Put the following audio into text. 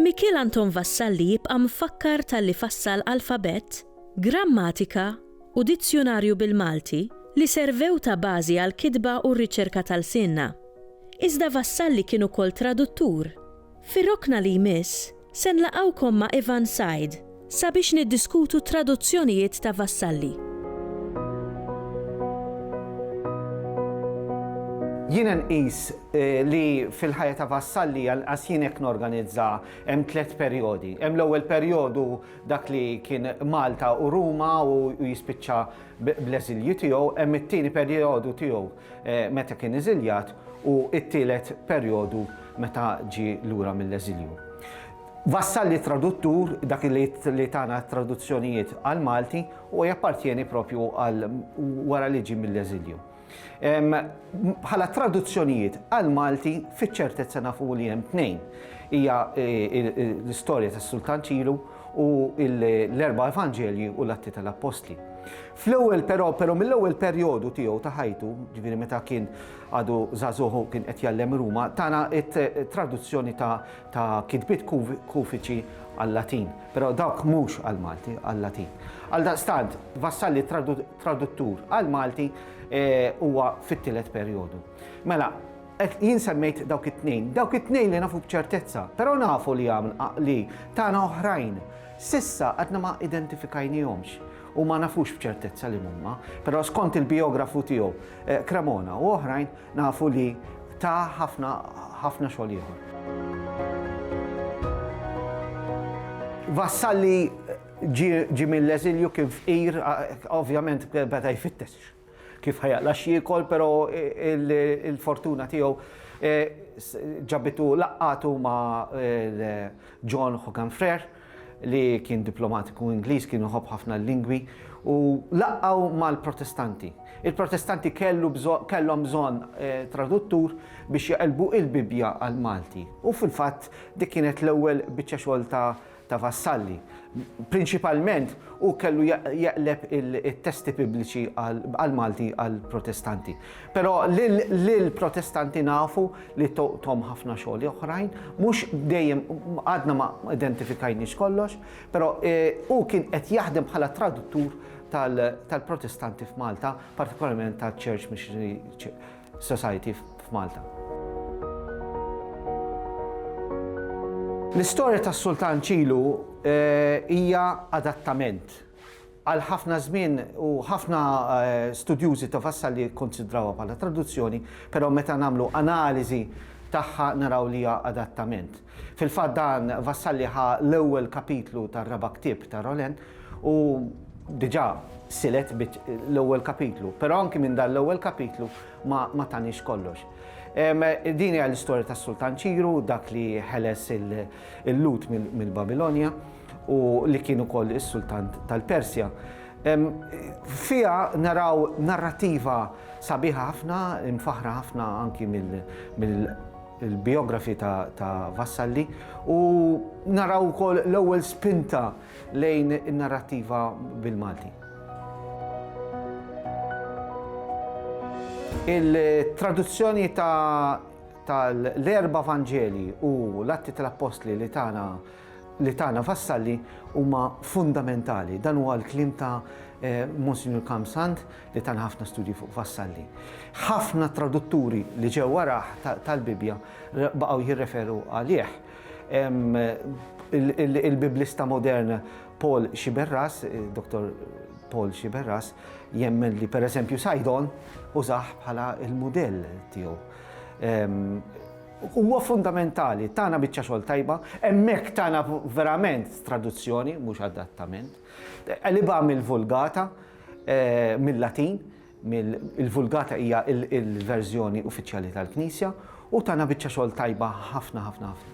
Mikiel Anton Vassalli jibqa' mfakkar talli fassal alfabett, grammatika u dizzjunarju bil-Malti li servew ta' bażi għall-kitba u r-riċerka ta' lsienna. Iżda Vassalli kien ukoll traduttur. Fir-rokna li jmiss, se nlaqgħukom ma' Ivan Said sabiex niddiskutu t-traduzzjonijiet ta' Vassalli. Jiena nqis li fil-ħajja ta' Vassalli, anqas jien hekk norganizza, hemm tliet perjodi. Hemm l-ewwel perjodu dak li kien Malta u Ruma u jispiċċa bl-eżilju tiegħu, hemm it-tieni perjodu tiegħu meta kien eżiljat u t-tielet perjodu meta ġie lura mill-eżilju. Vassalli traduttur, dak li tana traduzzjonijiet għal Malti, u jappartjeni propju għal wara li ġie mill-eżilju. Bħala traduzzjonijiet għal Malti fiċ-ċertezza nafu li hemm tnejn. Hija e, e, e, l-istorja tas-Sultan Ċilu u l-erba' Evanġelji u l-Atti tal-Appostli. Fl-ewwel però, però mill-ewwel perjodu tiegħu ta' ħajtu, ġifieri meta kien għadu żagħżugħ u kien qed jgħallem Ruma, tana t-traduzzjoni ta', ta kitbiet kufiċi għal-Latin, però dawk mhux għall-Malti, għal-Latin. Għaldaqstant, Vassalli traduttur għall-Malti e, huwa e, fit-tielet perjodu. Mela, jien semmejt dawk it-tnejn, dawk it-tnejn li nafu b'ċertezza, però nafu li għaml li tana oħrajn. Sissa għadna ma identifikajnihomx. u ma nafux b'ċertezza li mhuma, però skont il-bijografu tiegħu Cremona u oħrajn nafu li ta ħafna ħafna xogħol ieħor. Vassalli ġie mill-eżilju kien fqir, ovvjament beda jfittex kif ħajaqla x'jiekol, però il-fortuna tiegħu ġabitu laqqatu ma' John Hogan Frere, li kien diplomatiku Ingliż kien iħobb ħafna l-lingwi u laqgħu mal-Protestanti. Il-Protestanti kellhom bżonn eh, traduttur biex jaqelbu il-Bibbja għal Malti. U fil-fatt dik kienet l-ewwel biċċa xogħol ta' ta' vassalli. Prinċipalment u kellu jaqleb il-testi pubbliċi għal Malti għal protestanti. Però l-protestanti nafu li toqtom ħafna xogħli oħrajn, mhux dejjem għadna ma identifikajniex kollox, però eh, hu kien qed jaħdem bħala traduttur tal-Protestanti f'Malta, partikolarment tal-Church Missionary Society f'Malta. L-istorja tas-Sultan Ċilu eh, hija adattament Għal ħafna żmien u ħafna studjużi ta' Vassalli jikkunsidrawha bħala traduzzjoni, però meta nagħmlu analiżi tagħha naraw li hija adattament. Fil-fatt dan Vassalli ħa l-ewwel kapitlu tar-raba' ktieb ta' Rolin u diġà silet l-ewwel kapitlu, però anki minn dan l-ewwel kapitlu ma taniex kollox. Din hija l-istorja tas-Sultan Ċiru, dak li ħeles il-Lhud mill-Babilonja. u li kien ukoll is-Sultan tal-Persja. Fiha naraw narrativa sabiħa ħafna, imfaħra ħafna anki mill-biografi ta' Vassalli u naraw ukoll l-ewwel spinta lejn in-narrativa bil-Malti. Il-traduzzjoni tal-erba' Vanġeli u l-Atti tal-Appostli li tagħna li tagħna Vassalli huma fundamentali. Dan huwa l-kliem ta' eh, Monsignor Kamsand li tan ħafna studji fuq Vassalli. Ħafna tradutturi li ġew waraħ tal-Bibja baqgħu jirreferu għalih. Il-Biblista modern Paul Xiberras, eh, Dr. Paul Xiberras, jemmen li per eżempju Sajdon użaħ bħala il-modell tiegħu. Huwa fundamentali, tana biċċa xogħol tajba, hemmhekk tana verament traduzzjoni, mhux adattament. Qlibha mill-Vulgata, mil-Latin, il-Vulgata hija l-verżjoni uffiċjali tal-Knisja, u tana biċċa xogħol tajba ħafna ħafna ħafna.